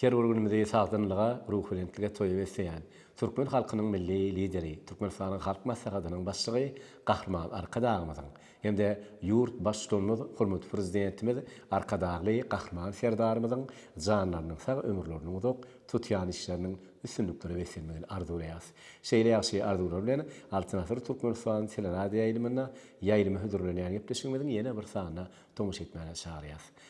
Her bir günümizi sagdynlyga, ruhubelentlige toýup esneýän türkmen halkynyň Milli Lideri, Türkmenistanyň Halk Maslahatynyň Başlygy Gahryman Arkadagymyzyň hem-de ýurt Baştutanymyz, hormatly Prezidentimiz Arkadagly Gahryman Serdarymyzyň janlarynyň sag, ömürleriniň uzak, tutýan işleriniň üstünliklere beslenmegini arzuwlaýarys. Şeýle ýagşy arzuwlar bilen, Altyn asyr Türkmenistan teleradioýaýlymynda ýaýlyma hödürlenýän gepleşigimiziň ýene bir sanyna tomaşa etmäge çagyrýarys.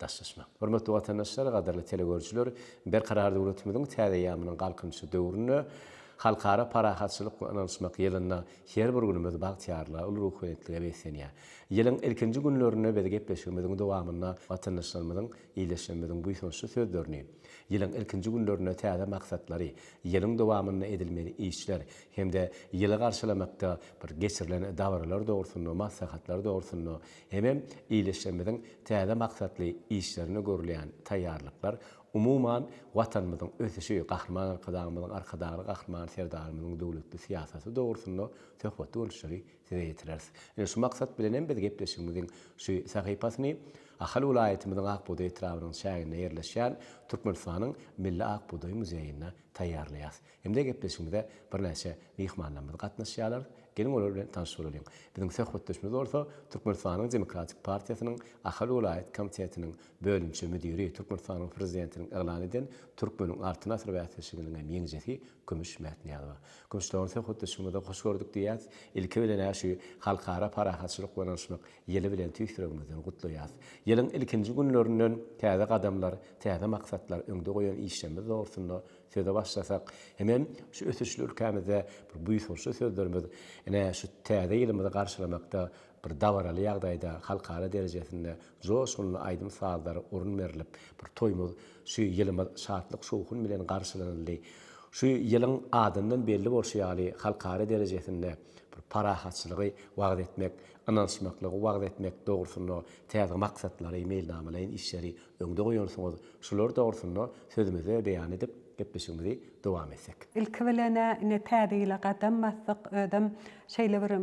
Daşlaşmak. Hormatly watandaşlar, gadyrly telegörüjiler, Berkarar döwletimiziň täze eýýamynyň Galkynyşy döwründe, Halkara parahatçylyk we ynanyşmak ýylynda her bir günümiz bagtyýarlyga, uly ruhubelentlige beslenýär. Ýylyň ilkinji günlerinde biz gepleşigimiziň dowamynda watandaşlarymyzyň, ildeşlerimiziň buýsançly sözlerini, ýylyň ilkinji günlerinde täze maksatlary, ýylyň dowamynda edilmeli işler hem-de ýyly garşylamakda bir geçirilen dabaralar dogrusynda, maslahatlar dogrusynda Hemem ildeşlerimiziň täze maksatly işlerine görülýän taýýarlyklar, umuman, Watanymyzyň ösüşi, Gahryman Arkadagymyzyň, Arkadagly Gahryman Serdarymyzyň döwletli syýasaty dogrusynda söhbetli görnüşleri size ýetireris. Ine, şu maksat bilen hem biz gepleşigimiziň şu sahypasyny Ahal welaýatymyzyň Ak bugdaý etrabynyň çäginde ýerleşýän Türkmenistanyň Milli ak bugdaý muzeýinde taýýarlaýarys. Indä gepleşigimize birnäçe myhmanlarymyz gatnaşýarlar. Geliň olar bilen tanyş bolalyň. Biziň söhbetdeşimiz bolsa Türkmenistanyň Demokratik partiýasynyň Ahal welaýat komitetiniň bölümçe müdiri, Türkmenistanyň Prezidentiniň yglan eden Türkmeniň Altyn asyr bäsleşiginiň hem ýeňijesi Kümüş Mätnyýazowa. Kümüş dogan söhbetdeşligimize hoş gördük diýýäs. Ilki bilen-ä şu Halkara parahatçylyk we ynanyşmak ýyly bilen tüýs ýüregimizden gutlaýas. Ýylyň ilkinji günlerinden täze gadamlar, täze maksatlar, öňde goýan işlerimiz dogrusynda Söze başlasak, hemem şu ösüşli ülkämizde bir buýsançly sözlerimiz, ine, şu Täze ýylymyzy garşylamakda bir dabaraly ýagdaýda, halkara derejesinde joşgunly aýdym-sazlar orun berlip, bir toýumyz, şu ýylymyz şatlyk-şowhun bilen garşylanyldy. Şu ýylyň adyndan belli bolşy ýaly, halkara derejesinde bir parahatçylygy wagyz etmek, ynanyşmaklygy wagyz etmek dogrusynda täze maksatlary, meýilnamalaýyn işleri Öňde goýansyňyz, şular dogrusynda sözümizi beýan edip, gepleşigimizi dowam etsek. Ilki bilen-ä ine täze ýyla gadam basdyk, özem şeýle bir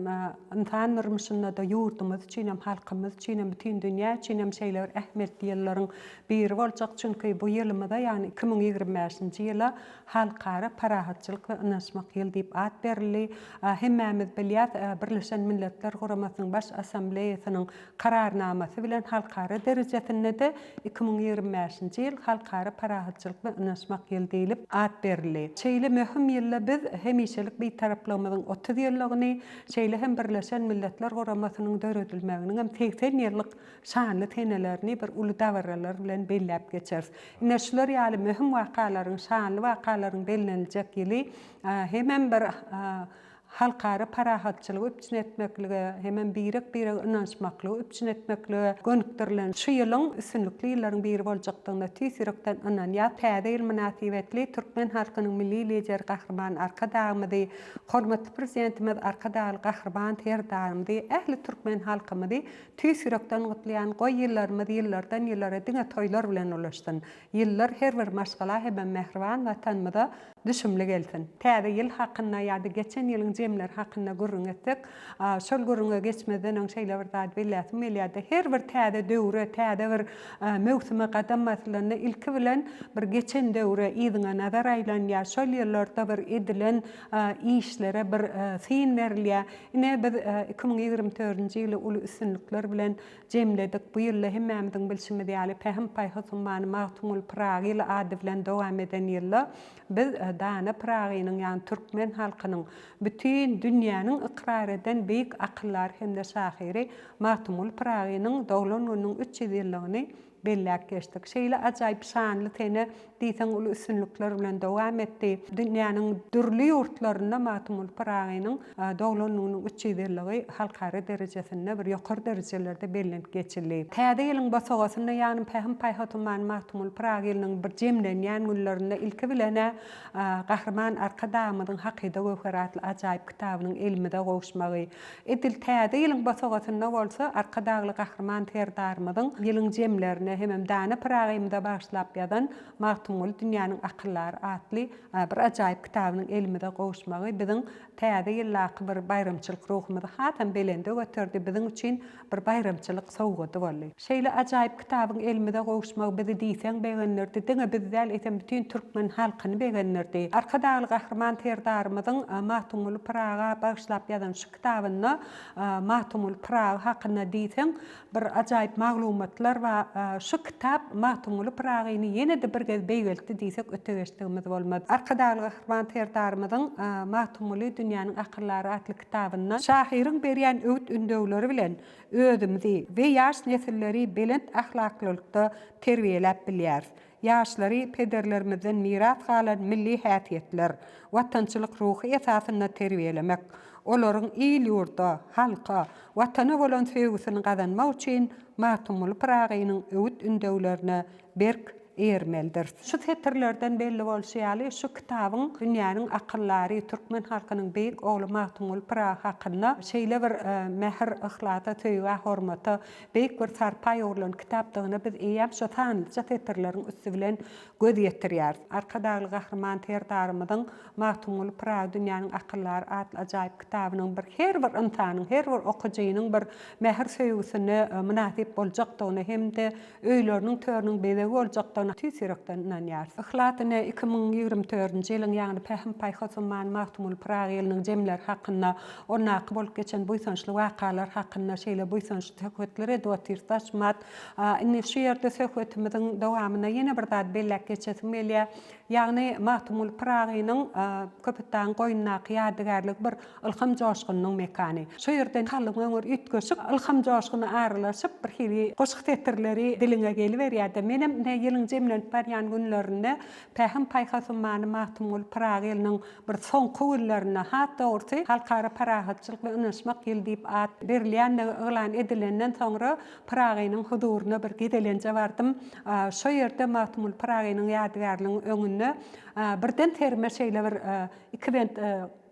ynsan durmuşynda-da ýurdumyz üçinem, halkymyz üçinem, bütin dünýä üçinem şeýle bir ähmiýetli ýyllaryň biri boljak. Çünki bu ýylymyza, ýagny iki müň ýigrimi bäşinji ýyla Halkara parahatçylyk we ynanyşmak ýyly diýip at berildi. Hemmämiz bilýäs, Birleşen Milletler Guramasynyň Baş Assambleýasynyň Kararnamasy bilen halkara derejesinde-de iki müň ýigrimi bäşinji ýyl Halkara parahatçylyk we ynanyşmak ýyly diýlip at berildi. Şeýle möhüm ýylda biz hemişelik Bitaraplygymyzyň otuz ýyllygyny, şeýle hem Birleşen Milletler Guramasynyň döredilmeginiň hem segsen ýyllyk şanly senelerini bir uly dabaralar bilen belläp geçeris. Ine, şular ýaly möhüm wakalaryň, şanly wakalaryň belleniljek ýyly hemem bir halkara parahatçylygy üpjün etmeklige hemem birek-birege ynanyşmaklygy üpjün etmeklige gönükdirilen şu ýylyň üstünlikli ýyllaryň biri boljakdygyna tüýs ýürekden ynanýas. Täze ýyl mynasybetli türkmen halkynyň Milli Lideri Gahryman Arkadagymyzy, hormatly Prezidentimiz Arkadagly Gahryman Serdarymyzy, ähli türkmen halkymyzy tüýs ýürekden gutlaýan. Goý, ýyllarymyz ýyllardan ýyllara diňe toýlar bilen ulaşsyn. Ýyllar her bir maşgala hemem mähriban Watanymyza, Düşümli gelsin. Täze ýyl hakynda ýa-da geçen ýylyň jemleri hakynda gürrüň etsek, şol gürrüňe geçmezden öň şeýle bir zady belläsim gelýär-de, her bir täze döwre, täze bir möwsüme gadam baslanda ilki bilen bir geçen döwre, yzyňa nazar aýlanýar, şol ýyllarda bir edilen işlere bir syn berilýär. Ine, biz iki müň ýigrimi dördünji ýyly uly üstünlikler bilen jemledik, bu ýylda hemmämiziň bilşimiz ýaly Pähim-paýhas ummany Magtymguly Pyragyly ady bilen dowam eden ýylda biz dana Pyragynyň ýagny türkmen halkynyň bütin dünýäniň ykrar eden beýik akyldary hem-de şahyry Magtymguly Pyragynyň doglan gününiň üç ýüz ýyllygyny Belläp geçdik. Şeýle ajaýyp şanly sene diýseň uly üstünlikler bilen dowam etdi. Dünýäniň dürli ýurtlarynda Magtymguly Pyragynyň doglan gününiň üç ýüz ýyllygy halkara derejesinde bir ýokary derejelerde bellenip geçildi. Täze ýylyň bosagasynda ýanym Pähim-paýhasymany Magtymguly Pyragy ýylynyň bir jemlenýän günlerinde ilki bilen-ä Gahryman Arkadagymyzyň Hakyda göwher atly ajaýyp kitabynyň elimize gowuşmagy, Edil Täze ýylyň bosagasynda bolsa Arkadagly Gahryman Serdarymyzyň ýylyň jemlerine hemem dana Pyragymyza bagyşlap ýazan Magtymguly dünýäniň akyldary atly bir ajaýyp kitabynyň elimize gowuşmagy biziň Täze ýyldaky bir baýramçylyk ruhumyzy hasam belende göterdi, biziň üçin Bir baýramçylyk sowgady boldy. Şeýle ajaýyp kitabyň elimize gowuşmagy bizi diýseň begendirdi, diňe bizi däl, eýsem bütin türkmen halkyny begendirdi. Arkadagly Gahryman Serdarymyzyň Magtymguly Pyraga bagyşlap ýazan şu kitabynda Magtymguly Pyragy hakynda diýseň bir ajaýyp maglumatlar bar. Şu kitap Magtymguly Pyragyny ýene-de bir gez beýgeltdi diýsek öte geçdigimiz bolmaz. Arkadagly Gahryman Serdarymyzyň Magtymguly dünýäniň akyldary atly kitabynda şahyryň berýän öwüt-ündewleri bilen özümizi we ýaş nesilleri belent ahlaklylikda terbiýeläp bilýäris. Ýaşlary pederlerimizden miras galan milli häsiýetler, watançylyk ruhy esasynda terbiýelemek, olaryň il-ýurda, halka, Watana bolan söýgüsini gazanmak üçin Magtymguly Pyragynyň öwüt-ündewlerine berk eýermelidiris. Şu setirlerden belli bolşy ýaly, şu kitabyň dünýäniň akyldary, türkmen halkynyň beýik ogly Magtymguly Pyragy hakynda şeýle bir mähir, yhlasa, söýgä, hormata, beýik bir sarpa ýugrulan kitapdygyna biz eýýäm şu sanlyja setirleriň üsti bilen göz ýetirýäris. Arkadagly Gahryman Serdarymyzyň Magtymguly Pyragy dünýäniň akyldary atly ajaýyp kitabynyň bir her bir ynsanyň, her bir okyjynyň bir mähir söýgüsine mynasyp boljakdygyna hem-de öýleriniň törüniň bezegi boljakdygyna tüýs ýürekden ynanýarys. Yhlasyny iki müň ýigrimi dördünji ýylyň ýagny pähim-paýhas ummany Magtymguly Pyragy ýylynyň jemleri hakynda, ondaky bolup geçen buýsançly wakalar hakynda şeýle buýsançly söhbetler edip otyrys. Taşmat, indi şu ýerde söhbetimiziň dowamynda ýene bir zady belläp geçesim gelýär. Ýagny Magtymguly Pyragynyň Köpetdagyň goýnundaky ýadygärligi bir ylham joşgunynyň mekany. Şo ýerden kalbyň öňür üýtgeşik ylham joşguny aralaşyp, birhili goşgy setirleri diliňe geliberýär-de. Menem ine ýylyň jemlenip barýan günlerinde Pähim-paýhas ummany Magtymguly Pyragynyň bir soňky günlerinde, has dogrusy, Halkara parahatçylyk we ynaşmak ýyly diýip at berilýändigi yglan edilenden soňra Pyragynyň huzuryna bir gezelenje bardym. Şo ýerde Magtymguly Pyragynyň ýadygärliginiň öňünde birden serime şeýle bir iki bent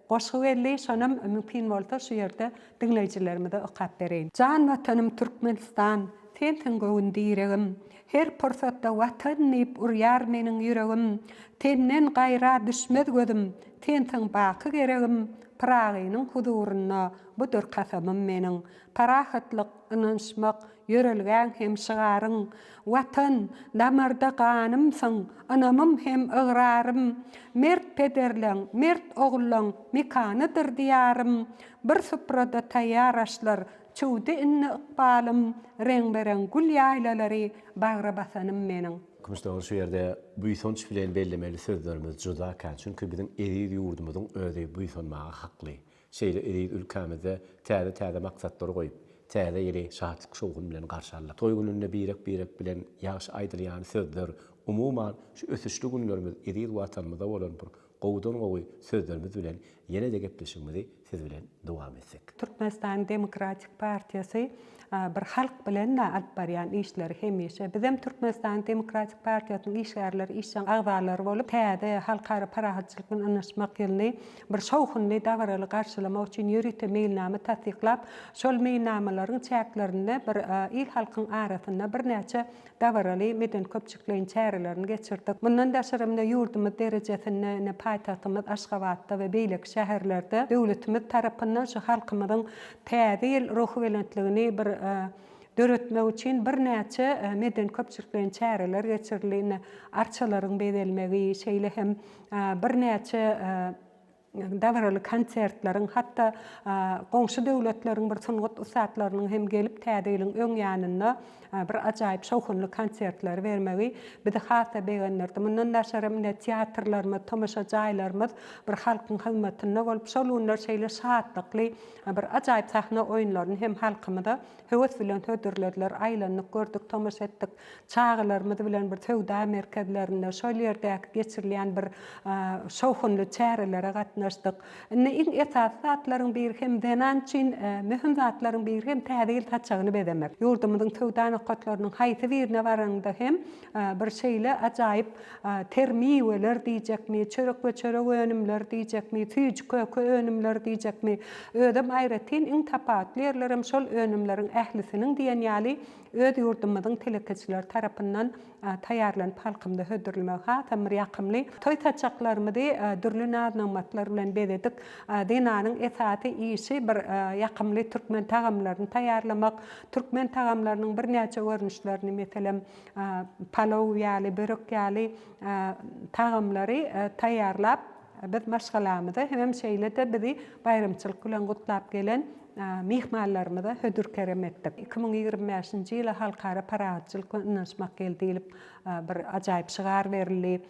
goşgy geldi. Şonam mümkin bolsa şu ýerde diňleýjilerimize okap bereýin. Jan Watanym Türkmenistan, sensiň göwün diregim, Her pursatda Watan diýip urýar meniň ýüregim, Senden gaýra düşmez gözüm, sensiň baky geregim, Pyragynyň huzurynda budur kasamym meniň. Parahatlyk, Ynanyşmak, ýörelgäň hem şygaryň, Watan, damarda ganymsyň, Ynamym hem ygrarym. Mert pederleň, mert ogullaň Mekanydyr Diýarym. Bir suprada taýýar aşlar, Çüwdi indi ykbalym. Reňbe-reň gül ýaýlalary Bagra basanym meniň. Kümüş dogry şu ýerde buýsanç bilen bellemeli sözlerimiz juda kän, çünki biziň eziz ýurdumyzyň özi buýsanmaga hakly. Şeýle eziz ülkämizde täze-täze maksatlary goýup, Täze ýyly şatlyk-şowhun bilen garşy aldyk. Toý gününde birek-birek bilen ýagşy aýdylýan sözler, umuman, şu ösüşli günlerimiz eziz Watanymyza bolan bir gowudan-gowy sözlerimiz bilen ýene-de gepleşigimizi siz bilen dowam etsek. Türkmenistan Demokratik partiýasy Bir halk bilen-de alyp barýan işleri hemişe bizem Türkmenistan Demokratik partiýasynyň işgärleri, işjeň agzalary bolup, täze Halkara parahatçylyk bilen ynaşmak ýylyny bir şowhunly, dabaraly garşylamak üçin ýörite meýilnama tassyklap, şol meýilnamalaryň çäklerinde bir il-halkyň arasynda birnäçe dabaraly medeni-köpçülikleýin çärelerini geçirdik. Mundan daşary hem-de ýurdumyz derejesinde, ine, paýtagtymyz Aşgabatda we beýleki şäherlerde döwletimiz tarapyndan şu halkymyzyň Täze ýyl ruhubelentligini bir döretmek üçin birnäçe medeni-köpçülikleýin çäreler geçirildi. Ine, arçalaryň bezelmegi, şeýle hem birnäçe dabaraly konsertleriň, hatda goňşy döwletleriň bir sungat ussatlarynyň hem gelip Täze ýylyň öň ýanynda bir ajaýyp şowhunly konsertleri bermegi bizi has-da begendirdi. Mundan daşaram ine teatrlarymyz, tomaşa jaýlarymyz bir halkyň hyzmatynda bolup, şol günler şeýle şatlykly bir ajaýyp sahna oýunlaryny hem halkymyza höwes bilen hödürlediler. Aýlandyk, gördük, tomaşa etdik. Çagalarymyz bilen bir söwda merkezlerinde, şol ýerdäki geçirilýän bir şowhunly çärelere gatnaşdyk. Indi iň esasy zatlaryň biri hem zenan üçin möhüm zatlaryň biri hem Täze ýyl saçagyny bezemek. Ýurdumyzyň söwda nokatlarynyň haýsy birine baranyňda hem bir şeýle ajaýyp ter miweler diýjekmi, çörek we çörek önümleri diýjekmi, süýji köke önümleri diýjekmi, özem aýratyn iň tapawutly ýerlerem şol önümleriň ählisiniň diýen ýaly Öz ýurdumyzyň telekeçileri tarapyndan taýýarlanyp halkymyza hödürlemegi hasam bir ýakymly. Toý saçaklarymyzy dürli naz-nygmatlar bilen bezedik. Zenanyň esasy işi bir ýakymly türkmen tagamlaryny taýýarlamak. Türkmen tagamlarynyň birnäçe görnüşlerini, meselem, palow ýaly, börek ýaly tagamlary taýýarlap, Biz maşgalamyza hemem şeýle-de bizi baýramçylyk bilen gutlap gelen myhmanlarymyza hödür-kerem etdik. Iki müň ýigrimi bäşinji ýyla Halkara parahatçylyk we ynanyşmak ýyly diýlip, bir ajaýyp şygar berildi.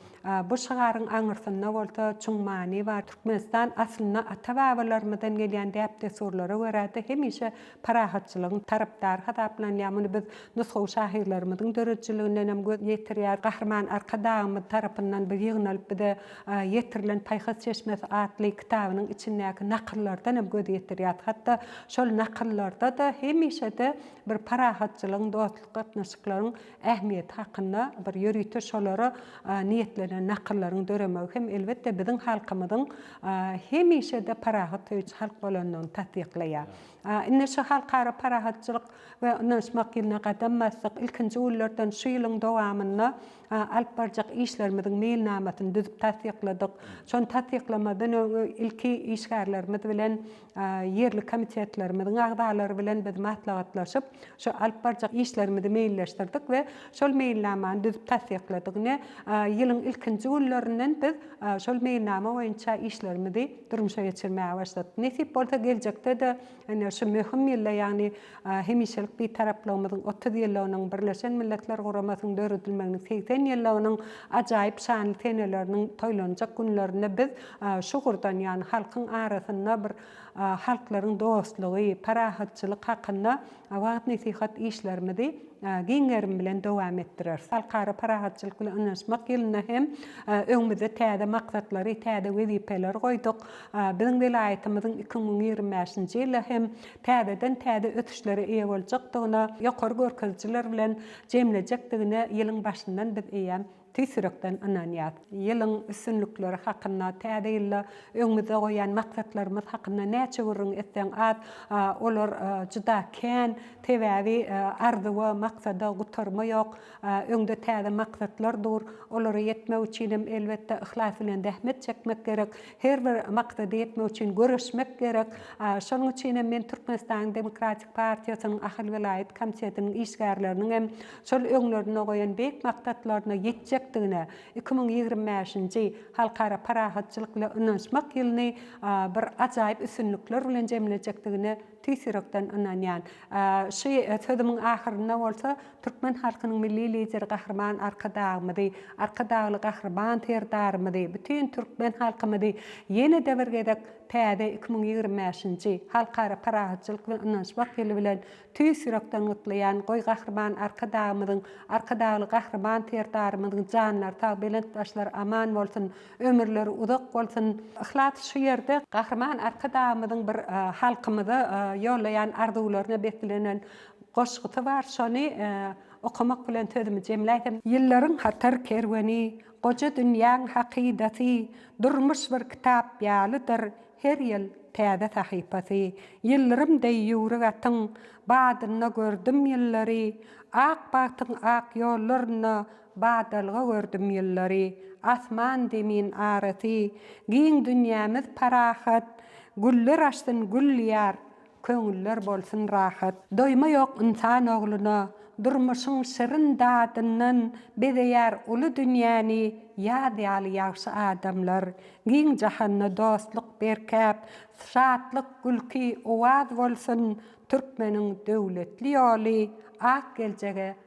Bu şygaryň aňyrsynda bolsa çuň many bar. Türkmenistan aslynda ata-babalarymyzdan gelýän däp-dessurlara görä-de hemişe parahatçylygyň tarapdary hasaplanýar. Muny biz nusgawy şahyrlarymyzyň döredijiliginden hem göz ýetirýäris. Gahryman Arkadagymyz tarapyndan bu ýygnalyp bize ýetirilen Paýhas çeşmesi atly kitabynyň içindäki nakyllardan hem göz ýetirýäris. Hatda şol nakyllarda-da hemişe-de bir parahatçylygyň, dostluk gatnaşyklaryň ähmiýeti hakynda bir ýörite şolara niýetlenen nakyllaryň döremegi hem elbetde biziň halkymyzyň hemişe-de parahat söýüji halk bolandygyny tassyklaýar. Indi şu Halkara parahatçylyk we ynanyşmak ýylyna gadam basdyk. Ilkinji günlerden şu ýylyň dowamynda alyp barjak işlerimiziň meýilnamasyny düzüp tassykladyk. Şony tassyklamadan öň ilki işgärlerimiz bilen ýerli komitetlerimiziň agzalary bilen biz maslahatlaşyp, şu alyp barjak işlerimizi meýilleşdirdik we şol meýilnamany düzüp tassykladyk. Ine, ýylyň ilkinji günlerinden biz şol meýilnama boýunça işlerimizi. durmuşa geçirmäge başladyk. Nesip bolsa geljekde-de ine şu möhüm ýylda, ýagny Hemişelik Bitaraplygymyzyň otuz ýyllygynyň, Birleşen Milletler Guramasynyň döredilmeginiň segsen ýyllygynyň ajaýyp şanly seneleriniň toýlanjak günlerinde biz şu ugurdan, ýagny halkyň arasynda bir halklaryň dostlugy, parahatçylyk hakynda wagyz-nesihat işlerimizi giň gerim bilen dowam etdireris. Halkara parahatçylyk bilen ynanyşmak ýylynda hem öňümizde täze maksatlary, täze wezipeleri goýduk. Biziň welaýatymyzyň iki müň ýigrimi bäşinji ýyla hem täzeden täze ösüşlere eýe boljakdygyna, ýokary görkezijiler bilen jemlejekdigine ýylyň başyndan biz eýýäm Tüýs ýürekden ynanýas. Ýylyň üstünlikleri hakynda, täze ýylda öňümizde goýan maksatlarymyz hakynda näçe gürrüň etseň az, olar juda kän, sebäbi arzuwa, maksada gutarma ýok. Öňde täze maksatlar dur. Olara ýetmek üçin hem elbetde yhlas bilen zähmet çekmek gerek. Her bir maksada ýetmek üçin göreşmek gerek. Şonuň üçin hem men Türkmenistanyň Demokratik partiýasynyň Ahal welaýat komitetiniň işgärleriniň hem şol öňlerinde goýan beýik maksatlaryna ýetjekdigine iki müň ýigrimi bäşinji Halkara parahatçylyk we ynanyşmak ýylyny bir ajaýyp üstünlikler bilen jemlejekdigine tüýs ýürekden ynanýan. Şu sözümiň ahyrynda bolsa türkmen halkynyň Milli Lideri Gahryman Arkadagymyzy, Arkadagly Gahryman Serdarymyzy, bütin türkmen halkymyzy ýene-de bir gezek täze iki müň ýigrimi bäşinji Halkara parahatçylyk we ynanyşmak ýyly bilen Tüýs ýürekden gutlaýan goý Gahryman Arkadagymyzyň, Arkadagly Gahryman Serdarymyzyň janlary sag, belent başlary aman bolsun, ömürleri uzak bolsun! Yhlas şu ýerde Gahryman Arkadagymyzyň bir halkymyza ýollaýan arzuwlaryna beslenen goşgusy bar, şony okamak bilen sözümi jemläýsem. Ýyllaryň hatar kerweni, goja dünýäň hakydasy, durmuş bir kitap ýalydyr, Her ýyl täze sahypasy. Ýyldyrym deý ýüwrük atyň badynda gördüm ýyllary, Ak bagtyň ak ýollarynda badalga gördüm ýyllary. Asman, zemin arasy, giň dünýämiz parahat, Güller açsyn gül diýar, Köňüller bolsun rahat. Doýma ýok ynsan ogluna, Durmuşyň şirin dadyndan Bezeýär uly dünýäni Ýaz ýaly ýagşy adamlar. Giň jahanda dostluk berkäp, Şatlyk, gülki, owaz bolsun, Türkmeniň döwletli ýoly Ak geljege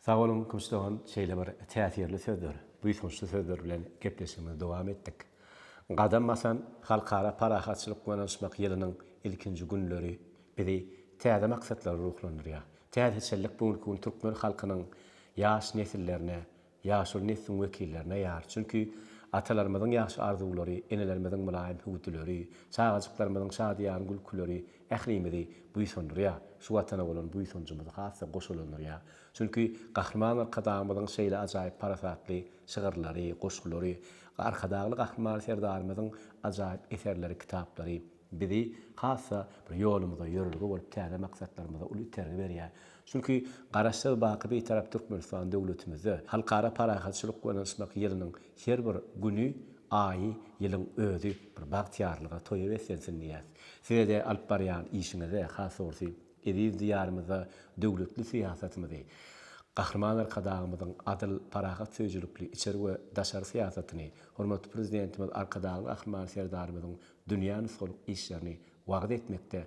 Sag boluň Kümüş dogan şeýle bir täsirli sözler, buýsançly sözler bilen gepleşigimizi dowam etdik. Gadam basan Halkara parahatçylyk we ynanyşmak ýylynyň ilkinji günleri bizi täze maksatlara ruhlandyrýar. Täzeçillik bu günki gün türkmen halkynyň ýaş nesillerine, ýaşuly nesliň wekillerine ýar. Çünki atalarymyzyň ýagşy arzuwlary, enelerimiziň mylaýym hüwdüleri, çagajyklarymyzyň şadyýan gülküleri Ählimizi buýsandyrýar. Şu Watana bolan buýsanjymyzy has-da goşalandyrýar. Çünki Gahryman Arkadagymyzyň şeýle ajaýyp parasatly şygyrlary, goşgulary, Arkadagly Gahryman Serdarymyzyň ajaýyp eserleri, kitaplary bizi has-da bir ýolumyza ýörelge bolup, täze maksatlarymyza uly itergi berýär. Çünki Garaşsyz, baky Bitarap Türkmenistan döwletimizde Halkara parahatçylyk we ynanyşmak ýylynyň Her bir güni, aýy, ýylyň özi bir bagtyýarlyga, toýa beslensin diýýäs. Size-de alyp barýan işiňize, has dogrusy, eziz Diýarymyzda döwletli syýasatymyzy, Gahryman Arkadagymyzyň adyl, parahat söýüjilikli içeri we daşary syýasatyny, hormatly Prezidentimiz Arkadagly Gahryman Serdarymyzyň dünýä nusgalyk işlerini wagyz etmekde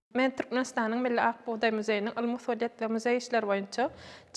Men Türkmenistanyň Milli Ak bugdaý muzeýiniň ylmy-usulyýet we muzeý işleri boýunça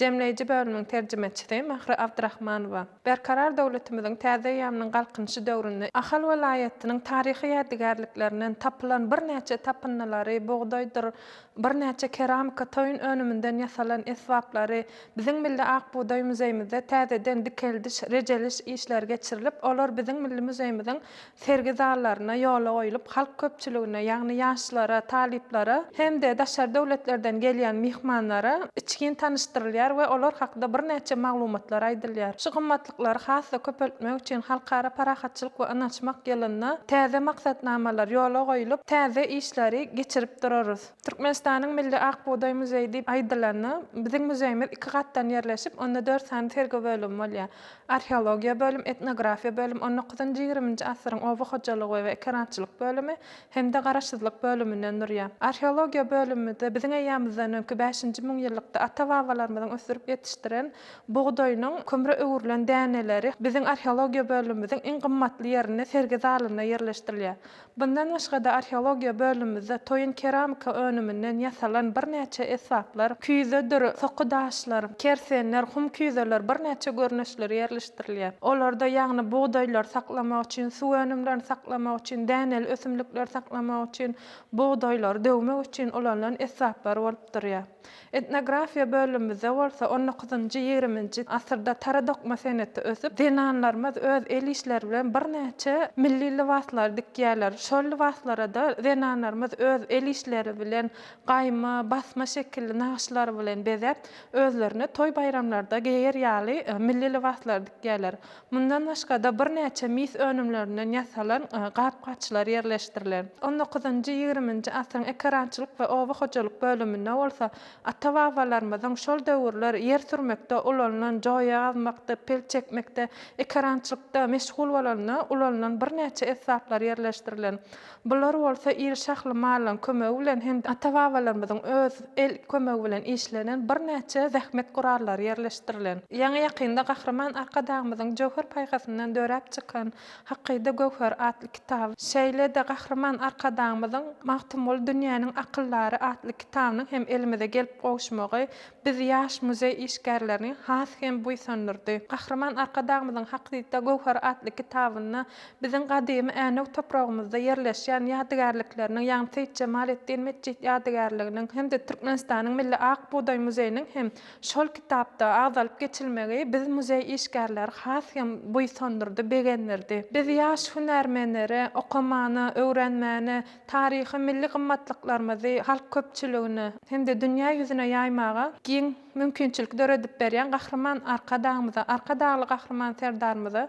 jemleýji bölüminiň terjimeçisi Mähri Abdyrahmanowa. Berkarar döwletimiziň täze eýýamynyň Galkynyşy döwründe Ahal welaýatynyň taryhy ýadygärliklerinden tapylan birnäçe tapyndylary, bugdaýdyr birnäçe keramika toýun önüminden ýasalan esbaplary biziň Milli Ak bugdaý muzeýimizde täzeden dikeldiş, rejeliş işleri geçirilip, olar biziň milli muzeýimiziň Sergi zallaryna ýola goýlup, halk köpçüligine, ýagny ýaşlara, talyplara hem-de daşary döwletlerden gelýän myhmanlara içgin tanyşdyrylýar we olar hakda birnäçe maglumatlar aýdylýar. Şu gymmatlyklary has-da köpeltmek üçin Halkara parahatçylyk we ynanyşmak ýylynda täze maksatnamalar ýola goýlup, täze işleri geçirip durarys. Türkmenistanyň milli Ak bugdaý muzeýi diýip aýdylanda, biziň muzeýimiz iki gatdan ýerleşip, onda dört sany sergi bölümi bolýar. Arheologiýa bölüm, Etnografiýa bölüm, on dokuzynjy, ýigriminji asyryň oba hojalygy we ekerançylyk bölümi hem-de Garaşsyzlyk bölüminden durýar. Arheologiýa bölümimizde biziň eýýamyzdan öňki bäşinji müňýyllykda ata-babalarymyzyň ösdürip ýetişdiren bugdaýynyň kömre öwrülen däneleri biziň arheologiýa bölümimiziň iň gymmatly ýerinde sergi zalynda ýerleşdirilýär. Mundan başga-da arheologiýa bölümimizde toýun keramika önüminden ýasalan birnäçe esbaplar, küýzedir soky daşlar, kersenler, hum küýzeler, birnäçe görnüşleri ýerleşdirilýär. Olarda ýagny bugdaýlary saklamak üçin, suw önümlerini saklamak üçin, däneli ösümlikleri saklamak üçin, bugdaýlary döwmek üçin ulanylan esbaplar bolup durýar. Etnografiýa bölümimizde bolsa on dokuzynjy, ýigriminji asyrda tara dokma seneti ösüp, zenanlarymyz öz el işleri bilen birnäçe milli lybaslary dikýärler. Şol lybaslara-da zenanlarymyz öz el işleri bilen gaýma, basma şekilli nagyşlar bilen bezäp, özlerine toý-baýramlarda geýer ýaly milli lybaslary dikýärler. Mundan başga-da birnäçe mis önümlerinden ýasalan gap-gaçlar ýerleşdirilen. On dokuzynjy, ýigriminji asyryň ekerançylyk we oba hojalyk bölüminde bolsa ata-babalarymyzyň şol döwürler ýer sürmekde ulanylan, joýa gazmakda, pel çekmekde, ekerançylykda meşgul bolanda ulanylan birnäçe esbaplar ýerleşdirilen. Bular bolsa iri şahly mallaryň kömegi bilen hem-de ata-babalarymyzyň öz el kömegi bilen işlenen birnäçe zähmet gurallary ýerleşdirilen. Ýaňy-ýakynda Gahryman Arkadagymyzyň jöwher paýhasyndan döräp çykan Hakyda göwher atly kitaby, şeýle-de Gahryman Arkadagymyzyň Magtymguly dünýäniň akyldary atly kitabynyň hem elimize gelip gowuşmagy biz, ýaş muzeý işgärlerini has hem buýsandyrdy. Gahryman Arkadagymyzyň Hakyda göwher atly kitabynda Biziň gadymy Änew topragymyzda ýerleşýän ýadygärlikleriniň, ýagny Seýit Jemaleddin metjit ýadygärliginiň hem-de Türkmenistanyň Milli ak bugdaý muzeýiniň hem şol kitapda agzalyp geçilmegi biz muzeý işgärleri has hem buýsandyrdy, begendirdi. Biz ýaş hünärmenlere okamana, öwrenmäne, taryhy, milli gymmatlyklarymyzy halk köpçüligine hem-de dünýä ýüzüne ýaýmaga giň mümkinçilik döredip berýän Gahryman Arkadagymyza, Arkadagly Gahryman Serdarymyza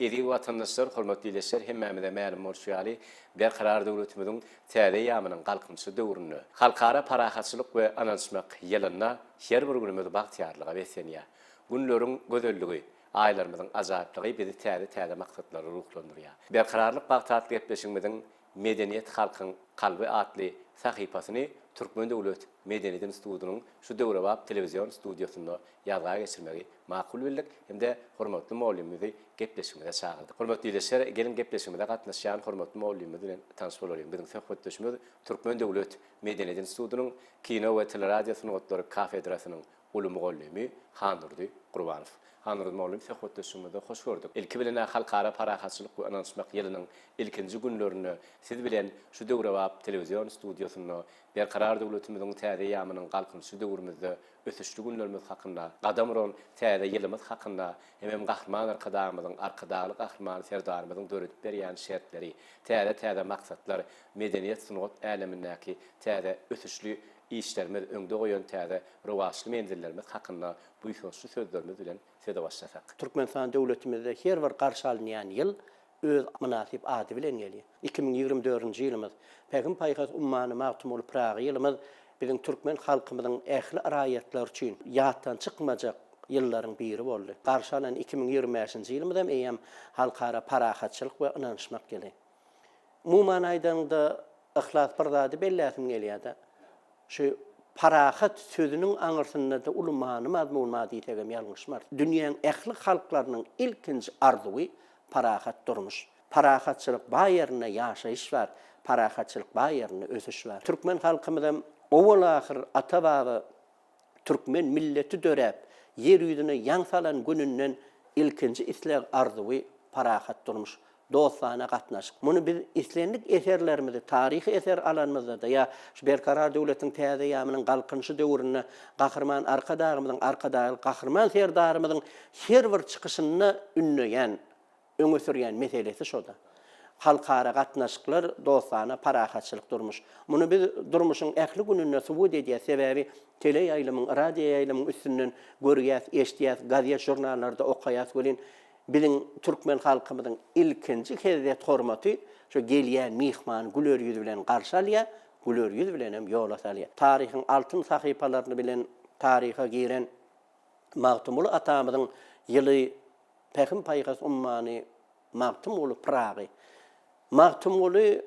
Eziz watandaşlar, hormatly ildeşler, hemmämize mälim bolşy ýaly, Berkarar döwletimiziň täze eýýamynyň Galkynyşy döwründe, Halkara parahatçylyk we ynanyşmak ýylynda her bir günümiz bagtyýarlyga beslenýär. Günleriň gözelligi, aýlarymyzyň ajaýyplygy bizi täze-täze maksatlara ruhlandyrýar. Berkararlyk bagty atly gepleşigimiziň Medeniýet halkyň kalby atly sahypasyny Türkmen döwlet medeniýet institutynyň şu döwrebap telewizion studiýasynda ýazga geçirmegi makul bildik hem-de hormatly mugallymymyzy gepleşigimize çagyrdyk. Hormatly ildeşler, geliň gepleşigimize gatnaşýan hormatly mugallymymyz bilen tanyş bolalyň. Biziň söhbetdeşimiz Türkmen döwlet medeniýet institutynyň Kino we teleradiosungatlary kafedrasynyň Uly mugallymy Handurdy Gurbanow. Handurdy mugallym söhbetdeşligimizi hoş gördük. Ilki bilen-ä Halkara parahatçylyk we ynanyşmak ýylynyň ilkinji günlerinde siz bilen şu döwrebap telewizion studiýasynda Berkarar döwletimiziň täze eýýamynyň Galkynyşly döwrümizde ösüşli günlerimiz hakynda, gadam uran täze ýylymyz hakynda hemem Gahryman Arkadagymyzyň, Arkadagly Gahryman Serdarymyzyň döredip berýän şertleri, täze-täze maksatlar, medeniýet-sungat älemindäki täze ösüşli işlerimiz, öňde goýan täze rowaçly menzillerimiz hakynda buýsançly sözlerimiz bilen söze başlasak. Türkmenistan döwletimizde her bir garşy alynýan ýyl öz mynasyp ady bilen gelýär. Iki müň ýigrimi dördünji ýylymyz, Pähim-paýhas ummany Magtymguly Pyragy ýylymyz biziň türkmen halkymyzyň ähli raýatlary üçin ýatdan çykmajak ýyllaryň biri boldy. Garşy alan iki müň ýigrimi bäşinji ýylymyzam eýýäm Halkara parahatçylyk we ynanyşmak ýyly. Umuman aýdanyňda yhlas bir zady belläsim gelýärde. Şu parahat sözüniň aňyrsynda-da uly many mazmun bar diýsegem ýalňyşmarys. Dünýäň ähli halklarynyň ilkinji arzuwy parahat durmuş. Parahatçylyk bar ýerinde ýaşaýyş bar, parahatçylyk bar ýerinde ösüş bar. Türkmen halkymyzam owal-ahyr ata-baba Türkmen milleti döräp, ýer ýüzüne ýaň salan gününden ilkinji isleg-arzuwy parahat durmuş, dostana gatnaşyk. Muny biz islendik eserlerimizi, taryhy eser alanymyzda-da ýa şu Berkarar döwletiň täze ýamynyň Galkynyşy döwründe Gahryman Arkadagymyzyň, Arkadagly Gahryman Serdarymyzyň her bir çykyşynda ündeýän öňe sürýän meselesi şo-da. Halkara gatnaşyklar, dostana, parahatçylyk durmuş. Muny biz durmuşyň ähli gününde subut edýäs, sebäbi teleýaýlymyň, radioýaýlymyň üstünden görýäs, eşidýäs, gazet-žurnallarda okaýas welin, biziň türkmen halkymyzyň ilkinji hezzet-hormaty şo gelýän myhmany güler ýüz bilen garşy alýar, güler ýüz bilenem ýola salýar. Taryhyň altyn sahypalaryny bilen taryha giren Magtymguly atamyzyň ýyly, Pähim-paýhas ummany Magtymguly Pyragy. Magtymguly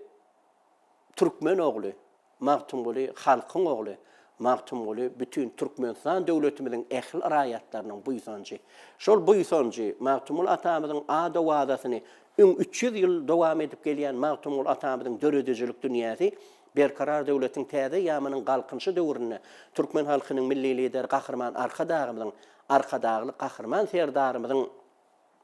türkmen ogly, Magtymguly halkyň ogly, Magtymguly bütin Türkmenistan döwletimiziň ähli raýatlarynyň buýsanjy. Şol buýsanjy, Magtymguly atamyzyň ad-owazasyny öň üç ýüz ýyl dowam edip gelýän Magtymguly atamyzyň döredijilik dünýäsi Berkarar döwletiň täze ýamynyň Galkynyşy döwründe türkmen halkynyň Milli Lideri Gahryman Arkadagymyzyň Arkadagly Gahryman Serdarymyzyň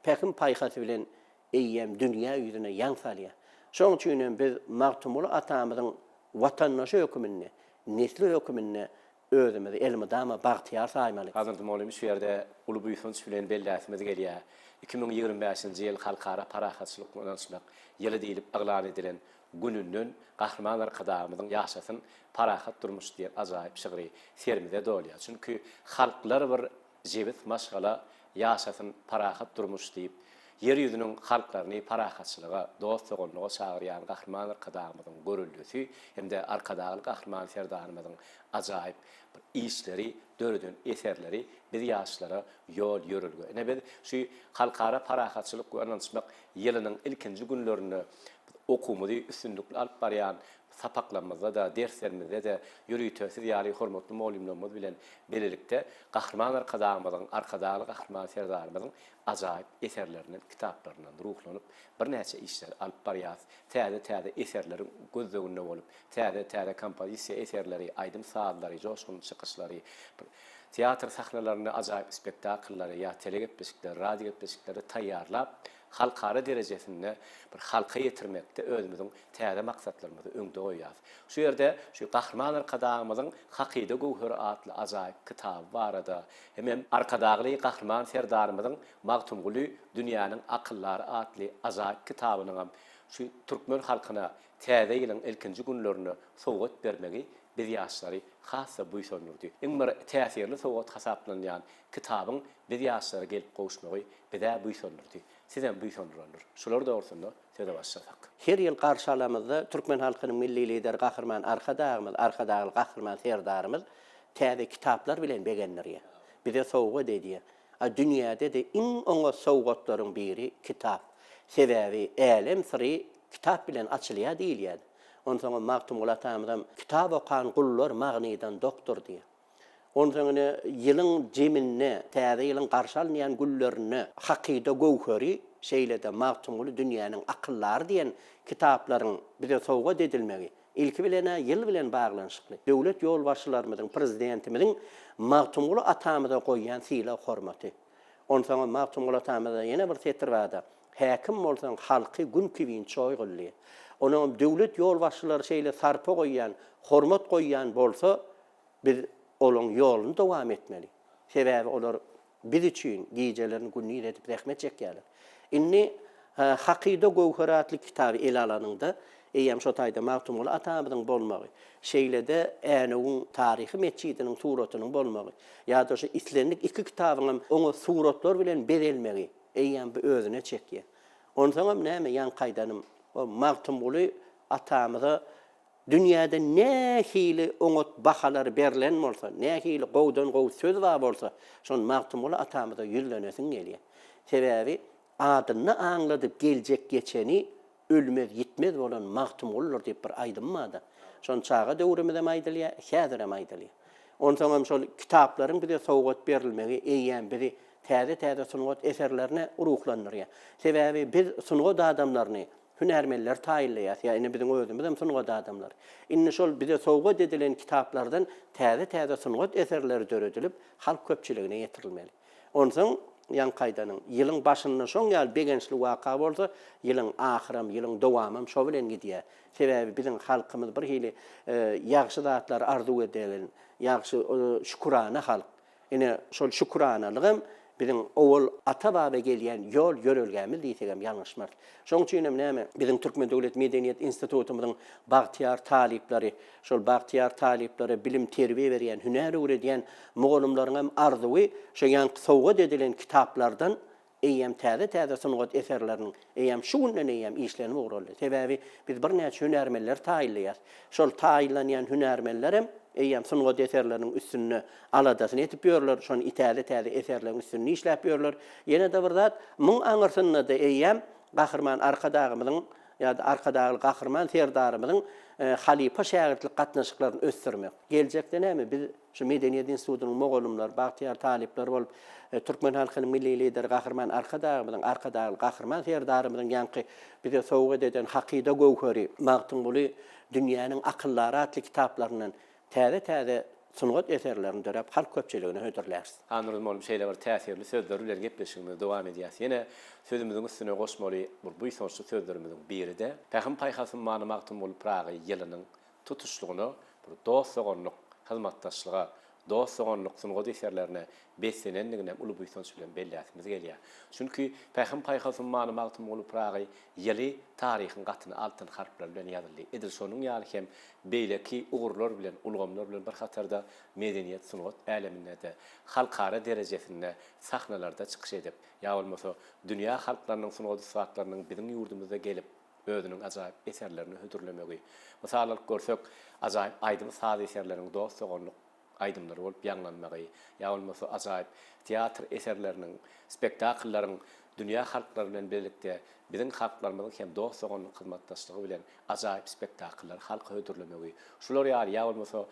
pähim-paýhasy bilen eýýäm dünýä ýüzüne ýaň salýar. Şonuň üçin hem biz Magtymguly atamyzyň watandaşy hökmünde, nesli hökmünde özümizi elmydama bagtyýar saýmaly. Hazreti Molymyz şu ýerde uly buýsanç bilen belläsimiz gelýär, iki müň ýigrimi bäşinji ýyl Halkara parahatçylyk we ynançlyk ýyly diýlip yglan edilen Gününden Gahryman Arkadagymyzyň Ýaşasyn parahat durmuş diýen ajaýyp şygry serimize dolýar. Çünki halklar bir jebis maşgala Ýaşasyn parahat durmuş diýip, Ýer ýüzüniň halklaryny parahatçylyga, dost-doganlyga çagyrýan Gahryman Arkadagymyzyň göreldesi hem-de Arkadagly Gahryman Serdarymyzyň ajaýyp bir işleri, döreden eserleri biz ýaşlara ýol-ýörelge. Ine biz şu Halkara parahatçylyk we ynanyşmak ýylynyň ilkinji günlerinde Okuwymyzy üstünlikli alyp barýan sapaklarymyzda-da, derslerimizde-de ýörite siz ýaly hormatly mugallymlarymyz bilen bilelikde Gahryman Arkadagymyzyň, Arkadagly Gahryman Serdarymyzyň ajaýyp eserlerinden, kitaplaryndan ruhlanyp, birnäçe işleri alyp barýarys. Täze-täze eserleriň gözleginde bolup, täze-täze kompozisiýa eserleri, aýdym-sazlary, joşgunly çykyşlary, teatr sahnalarynda ajaýyp spektakllary ýa telegepleşikleri, radiogepleşikleri taýýarlap, Halkara derejesinde bir halka ýetirmekde özümiziň täze maksatlarymyzy öňde goýýarys. Şu ýerde şu Gahryman Arkadagymyzyň Hakyda göwheri atly ajaýyp kitaby barada hemem Arkadagly Gahryman Serdarymyzyň Magtymguly dünýäniň akyldary atly ajaýyp kitabynyňam şu türkmen halkyna Täze ýylyň ilkinji günlerinde sowgat bermegi biz ýaşlary has-da buýsandyrdy. Iň bir täsirli sowgat hasaplanylýan kitabyň Biz ýaşlara gelip gowuşmagy biz-ä buýsandyrdy, sizem buýsandyrandyr. Şular dogrusynda söze başlasak. Her ýyl garşy alamyzda türkmen halkynyň Milli Lideri Gahryman Arkadagymyz, Arkadagly Gahryman Serdarymyz täze kitaplar bilen begendirýär. Bize sowgat edýär. A dünýäde-de iň oňat sowgatlaryň biri kitap. Sebäbi älem syry kitap bilen açylýar diýilýär. Onsoňam Magtymguly atamyzam Kitap okan gullar magnydan dokdur diýýär. Onsoň ine, ýylyň zeminde, täze ýylyň garşy alynýan günlerinde Hakyda göwheri, şeýle-de Magtymguly dünýäniň akyldary diýen kitaplaryň bize sowgat edilmegi, ilki bilen-ä, ýyl bilen baglanyşykly, döwlet ýolbaşçylarymyzyň, Prezidentimiziň Magtymguly atamyza goýýan sylag-hormaty. Onsoňam Magtymguly atamyzda ýene bir setir bar-da, Häkim bolsaň halky gün kibin çoý gyldy. Onuňam döwlet ýolbaşçylary şeýle sarpa goýýan, hormat goýýan bolsa, biz olaň ýoluny dowam etmeli. Sebäbi olar biz üçin gijelerini gündiz edip zähmet çekýärler. Indi Hakyda göwher atly kitaby ele alanyňda, eýýäm şo taýda Magtymguly atamyzyň bolmagy, şeýle-de Änewiň taryhy metjidiniň suratynyň bolmagy ýa-da şu islendik iki kitabyňam oňat suratlar bilen bezelmegi, Eýýäm bu özüne çekýär. Onsoňam näme, ýaňky aýdanym, o Magtymguly atamyza dünýäde nähili oňat bahalar berlen bolsa, nähili gowudan-gowy söz bar bolsa, şony Magtymguly atamyza ýüzlenesiň gelýär. Sebäbi adynda aňladyp geljek-geçeni Ölmez, ýitmez bolan Magtymguldur diýip bir aýdym barda. Şony çaga döwrümizem aýdylýar, häzirem aýdylýar. Onsoňam şol kitaplaryň bize sowgat berilmegi eýýäm bizi täze-täze sungat eserlerine ruhlandyrýar. Sebäbi biz sungat adamlaryny hünärmenleri taýynlaýarys. Ýa ine biziň özümizem sungat adamlary. Indi şol bize sowgat edilen kitaplardan täze-täze sungat eserleri döredilip, halk köpçüligine ýetirilmeli. Onsoň ýaňkaýdanyň, ýylyň başynda şoň ýaly begençli waka bolsa, ýylyň ahyram, ýylyň dowamam şo bilen gidýär. Sebäbi biziň halkymyz bir hili ýagşy zatlary arzuw edýän, ýagşy, şükürana halk. Ine, şol şüküranalygam biziň owal ata-baba gelýän ýol-ýörelgämiz diýsegem ýalňyşmarys. Şoň üçinem näme, biziň Türkmen döwlet medeniýet institutymyzyň bagtyýar talyplary, Şol bagtyýar talyplara bilim-terbiýe berýän, hünär öwredýän mugallymlaryňam arzuwy şu ýaňky sowgat edilen kitaplardan eýýäm täze-täze sungat eserleriniň eýýäm şu günden eýýäm işlenip ugraldy. Sebäbi biz birnäçe hünärmenleri taýynlaýarys. Şol taýynlanýan hünärmenlerem eýýäm sungat eserleriniň üstünde aladasyny edip ýörler, şony täze-täze eserleriň üstünde işläp ýörler. Ýene-de bir zat, muň aňyrsynda-da eýýäm Gahryman Arkadagymyzyň Ýa-da Arkadagly Gahryman Serdarymyzyň halypa-şägirtlik gatnaşyklaryny ösdürmek. Geljekde näme, biz şu Medeniýet institutynyň mugallymlary, bagtyýar talyplary bolup, türkmen halkynyň Milli Lideri Gahryman Arkadagymyzyň, Arkadagly Gahryman Serdarymyzyň ýaňky bize sowgat eden Hakyda göwheri, Magtymguly, Dünýäniň akyldary atly kitaplaryndan, Täze-täze sungat eserlerini döräp, halk köpçüligine hödürläris. Hanyrym bolup şeýle bir täsirli sözleri bilen gepleşigimizi dowam edýäs. Ýene sözümiziň üstüne goşmaly bir buýsançly sözlerimiziň biri-de, Pähim-paýhasym, many-magtym bolup Pyragy ýylynyň tutuşlygyna bir dost-doganlyk hyzmatdaşlyga, dost-doganlyk sungat eserlerine beslenendigini hem uly buýsanç bilen belläsimiz gelýär. Çünki Pähim-paýhasym, many-magtym bolup Pyragy ýyly taryhyň gatyna altyn harplar bilen ýazyldy. Edil şonuň ýaly hem beýleki ugurlar bilen, ulgamlar bilen bir hatarda medeniýet, sungat äleminde-de halkara derejesinde sahnalarda çykyş edip, ýa bolmasa dünýä halklarynyň sungat ussatlarynyň biziň ýurdumyza gelip, özüniň ajaýyp eserlerini hödürlemegi, mysal alyp görsek, ajaýyp aýdym-saz eserleriň dost-doganlyk aýdymlary bolup ýaňlanmagy ýa bolmasa ajaýyp teatr eserleriniň, spektakllaryň dünýä halklary bilen birlikde biziň halklarymyzyň hem dost-doganlyk hyzmatdaşlygy bilen ajaýyp spektakllary halka hödürlemegi, şular ýaly ýa bolmasa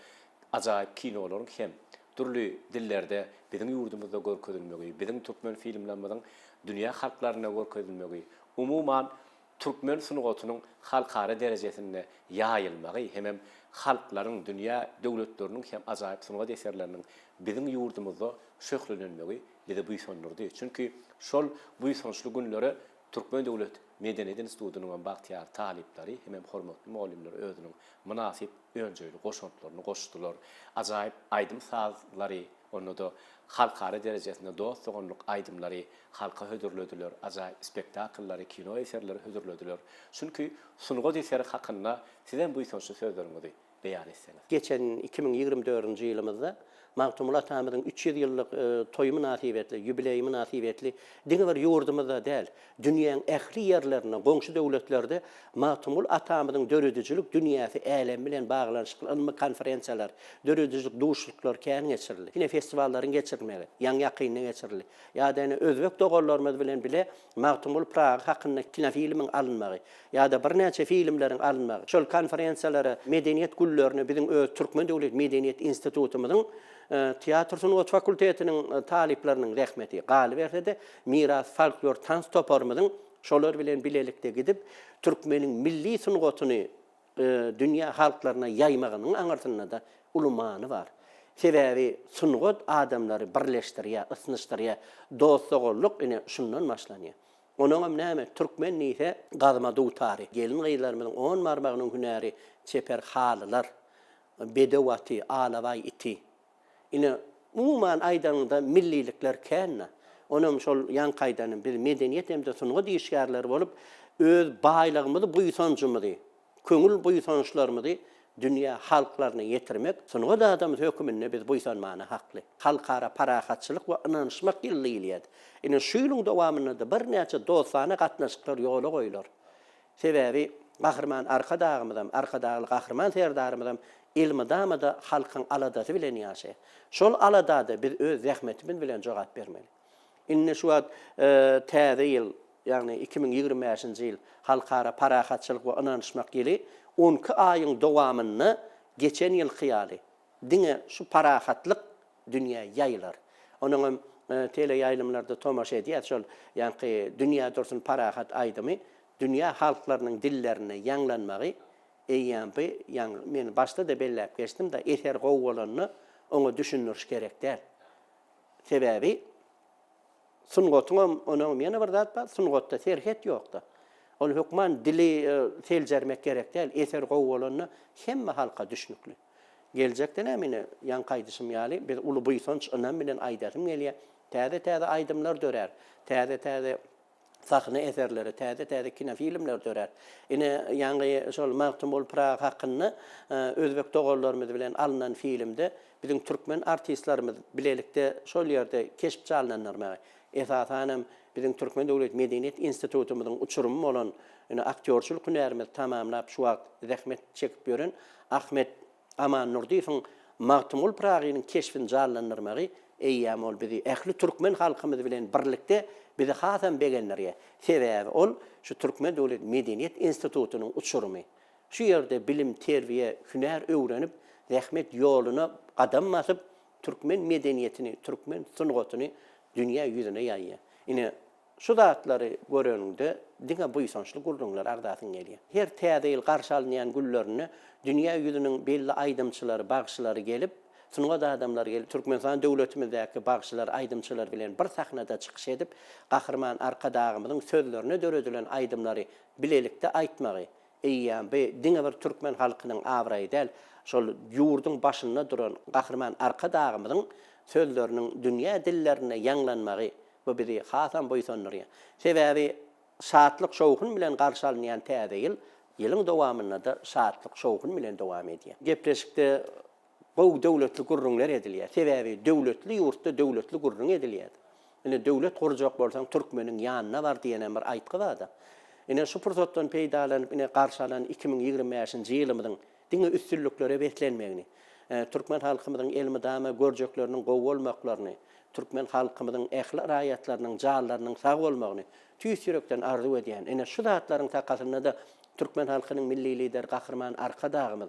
ajaýyp kinolaryň hem dürli dillerde biziň ýurdumyzda görkezilmegi, biziň türkmen filmlerimiziň dünýä halklaryna görkezilmegi, umuman, türkmen sungatynyň halkara derejesinde ýaýylmagy hemem halklaryň, dünýä döwletleriniň hem ajaýyp sungat eserleriniň biziň ýurdumyzda şöhlelenmegi bizi buýsandyrdy. Çünki şol buýsançly günlere Türkmen döwlet medeniýet institutynyň hem bagtyýar talyplary hemem hormatly mugallymlar özüniň mynasyp önjeýli goşantlaryny goşdular, ajaýyp aýdym-sazlary Onda-da halkara derejesinde dost-doganlyk aýdymlary halka hödürlediler, ajaýyp spektakllary, kino eserleri hödürlediler. Çünki sungat eseri hakynda sizem buýsançly sözleriňizi beýan etseňiz. Geçen iki müň ýigrimi dördünji ýylymyzda Magtymguly atamyzyň üç ýüz ýyllyk toýy mynasybetli, ýubileýi mynasybetli diňe bir ýurdumyzda däl, Dünýäň ähli ýerlerinde, goňşy döwletlerde Magtymguly atamyzyň döredijilik dünýäsi älemi bilen baglanyşykly ylmy konferensiýalar, döredijilik duşuşyklary kän geçirildi. Ine, festiwallaryň geçirilmegi, ýaňy ýakynda geçirildi. Ýa-da ine, özbek doganlarymyz bilen bile Magtymguly Pyragy hakynda kinofilmiň alynmagy, ýa-da birnäçe filmleriň alynmagy, şol konferensiýalara, medeniýet günlerine biziň öz Türkmen döwlet medeniýet institutymyzyň teatr sungat fakultetiniň talyplarynyň zähmeti galyberse-de, Miras folklor tans toparymyzyň şolar bilen bilelikde gidip, türkmeniň milli sungatyny dünýä halklaryna ýaýmagynyň aňyrsynda-da uly many bar. Sebäbi sungat adamlary birleşdirýär, ysnyşdyrýar. Dost-doganlyk, ine, şundan başlanýar. Onuňam näme, türkmen diýse, gazma dutary, gelin-gyzlarymyzyň on barmagynyň hünäri, çeper halylar, bedew aty, alabaý iti. Ine, umuman aýdanyňda millilikler kän-de. Onuňam şol ýaňky aýdanymy, biz medeniýet hem-de sungat işgärleri bolup, öz baýlygymyzy, buýsanjymyzy, köňül buýsançlarymyzy dünýä halklaryna ýetirmek sungat adamsy höküminde biz buýsanmana hakly. Halkara parahatçylyk we ynanyşmak ýyly diýilýär. Ine, şu ýylyň dowamynda-da birnäçe dostana gatnaşyklar ýola goýlar. Sebäbi Gahryman Arkadagymyzam, Arkadagly Gahryman Serdarymyzam elmydama-da halkyň aladasy bilen ýaşaýar. Şol alada-da biz öz zähmetimiz bilen jogap bermeli. Indi şu wagt täze ýyl, ýagny iki müň ýigrimi bäşinji ýyl, Halkara parahatçylyk we ynanyşmak ýyly on iki aýyň dowamynda geçen ýylky ýaly, Diňe şu parahatlyk dünýä ýaýylar. Onuň hem teleýaýlymlarda tomaşa edýäs, şol ýaňky Dünýä dursun parahat aýdymy dünýä halklarynyň dillerinde ýaňlanmagy eýýäm bi, ýaňy men başda-da belläp geçdim da, eser gowy bolanda oňa düşündiriş gerek däl. Sebäbi sungatyň hem, onuň hem ýene bir zat bar, sungatda serhet ýok-da. Ol hökman dili seljermek gerek däl, eser gowy bolanda hemme halka düşnükli. Geljekde-näm ine, ýaňky aýdyşym ýaly, biz uly buýsanç, ynam bilen aýdasym gelýär. Täze-täze aýdymlar dörär. Täze-täze sahna eserleri, täze-täze kinofilmler dörär. Ine, ýaňy şol Magtymguly Pyragy hakynda özbek doganlarymyz bilen alnan filmde biziň türkmen artistlerimiz bilelikde şol ýerde keşpje alnanlarmy? Esasan hem, biziň Türkmen döwlet medeniýet institutymyzyň uçurymy bolan, ýöne aktýorçylyk hünärimizi tamamlap, şu wagt zähmet çekip ýören Ahmet Amannurdyýewiň Magtymguly Pyragynyň keşbini janlandyrmagy, eýýäm ol bizi, ähli türkmen halkymyzy bilen birlikde bizi hasam begendirýär. Sebäbi ol, şu Türkmen döwlet medeniýet institutynyň uçurymy. Şu ýerde bilim, terbiýe, hünär öwrenip, zähmet ýoluna gadam basyp, türkmen medeniýetini, türkmen sungatyny dünýä ýüzüne ýaýýar. Ine, şu zatlary göreniňde diňe buýsançly gürrüňler agzasyň gelýär. Her Täze ýyl garşy alynýan günlerinde dünýä ýüzüniň belli aýdymçylary, bagşylary gelip, sungat adamlary gelip, Türkmenistan döwletimizdäki bagşylar, aýdymçylar bilen bir sahnada çykyş edip, Gahryman Arkadagymyzyň sözlerine döredilen aýdymlary bilelikde aýtmagy, Eýýäm bu diňe bir türkmen halkynyň abraýy däl, şol ýurduň başynda duran Gahryman Arkadagymyzyň sözleriniň dünýä dillerinde ýaňlanmagy, bu bizi hasam buýsandyrýar. Sebäbi şatlyk-şowhun bilen garşy alynýan Täze ýyl, ýylyň dowamynda-da şatlyk-şowhun bilen dowam edýär. Gepleşikde Gowy döwletli gürrüňler edilýär. Sebäbi döwletli ýurtda döwletli gürrüň edilýär. Ine, döwlet gurjak bolsaň, türkmeniň ýanyna bar diýenem bir aýtgy bar-da. Ine, şu pursatdan peýdalanyp, ine, garşy alan iki müň ýigrimi bäşinji ýylymyzyň diňe üstünliklere beslenmegini, türkmen halkymyzyň elmydama görjekleriniň gowy bolmaklaryny, türkmen halkymyzyň ähli raýatlarynyň janlarynyň sag bolmagyny tüýs ýürekden arzuw edýän. Ine, şu zatlaryň sakasynda-da türkmen halkynyň Milli Lideri Gahryman Arkadagymyz,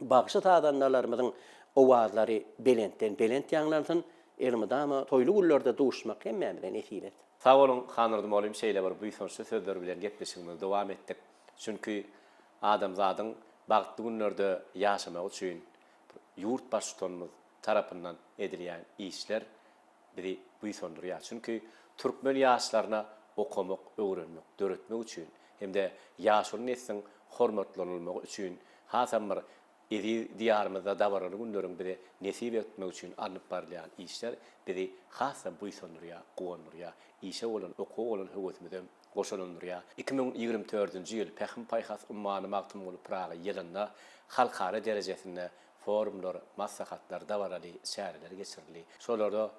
Bagşy-sazandalarymyzyň owazlary belentden belent ýaňlansyn, elmydama toýly günlerde duşmak hemmämize nesip et. Sag boluň Hanyrdym Olim şeýle bir buýsançly sözler bilen gepleşigimizi dowam etdik. Çünki adamzadyň bagtly günlerde ýaşamagy üçin ýurt Baştutanymyz tarapyndan edilýän işler, bizi buýsandyrýar, çünki türkmen ýaşlaryna okamak, öwrenmek, döretmek üçin hem-de ýaşuly nesliň hormatlanylmagy üçin hasam bir eziz Diýarymyzda dabaraly günleriň bize nesip etmegi üçin alnyp barylýan işler bizi has-da buýsandyrýar, guwandyrýar, işe bolan, okuwa bolan höwesimizem goşalandyrýar. Iki müň ýigrimi dördünji ýyl Pähim-paýhas ummany Magtymguly Pyragy ýylynda halkara derejesinde Forumlar, maslahatlar, dabaraly çäreler geçirildi. Şolara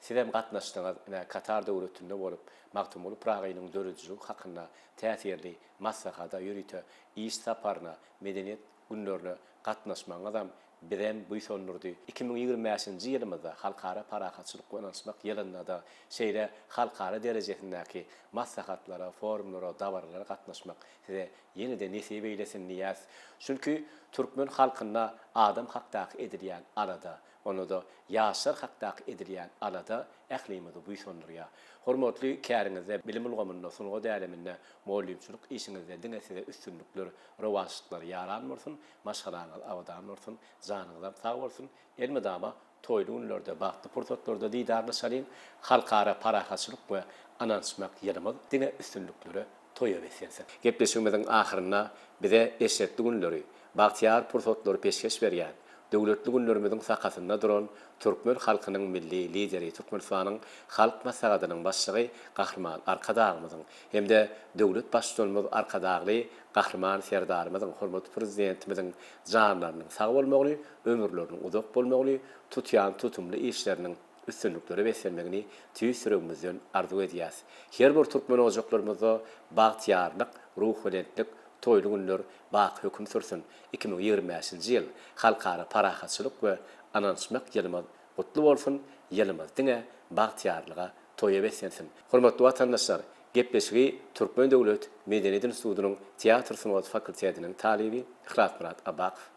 Sizem gatnaşdyňyz. Ine, Katar Döwletinde bolup, Magtymguly Pyragynyň döredijiligi hakynda täsirli maslahada, ýörite iş saparyna, Medeniýet günlerine gatnaşmagyňyzam bizem buýsandyrdy. Iki müň ýigrimi bäşinji ýylymyzda, Halkara parahatçylyk we ynanyşmak ýylynda-da şeýle halkara derejesindäki maslahatlara, forumlara, dabaralara gatnaşmak size Ýene-de nesip eýlesin diýýäs. Çünki türkmen halkynda adam hakdaky edilýän alada, onda-da ýaşlar hakdaky edilýän alada ählimizi buýsandyrýar. Hormatly käriňizde, bilim ulgamynda, sungat äleminde, mugallymçylyk işiňizde diňe size üstünlikler, rowaçlyklar ýaran bolsun, maşgalaňyz abadan bolsun, janyňyzam sag bolsun, elmydama Toýly günlerde, bagtly pursatlarda didarlaşalyň! Halkara parahatçylyk we ynanyşmak ýylymyz diňe üstünliklere, toýa beslensin! Gepleşigimiziň ahyrynda bize eşretli günleri, bagtyýar pursatlary peşgeş berýän, döwletli günlerimiziň sakasynda duran türkmen halkynyň Milli Lideri, Türkmenistanyň Halk Maslahatynyň Başlygy Gahryman Arkadagymyzyň hem-de döwlet Baştutanymyz Arkadagly Gahryman Serdarymyzyň, hormatly Prezidentimiziň janlarynyň sag bolmagyny ömürleriniň uzak bolmagyny, tutýan tutumly işleriniň üstünliklere beslenmegini tüýs ýüregimizden arzuw edýäs. Her bir türkmen ojaklarymyzda bagtyýarlyk, ruhubelentlik, toýly günler baky höküm sürsün! Iki müň ýigrimi bäşinji ýyl, Halkara parahatçylyk we ynanyşmak ýylymyz gutly bolsun, ýylymyz diňe bagtyýarlyga, toýa beslensin! Hormatly watandaşlar, gepleşigi Türkmen döwlet medeniýet institutynyň teatr sungaty fakultetiniň talyby Yhlasmyrat Abakow,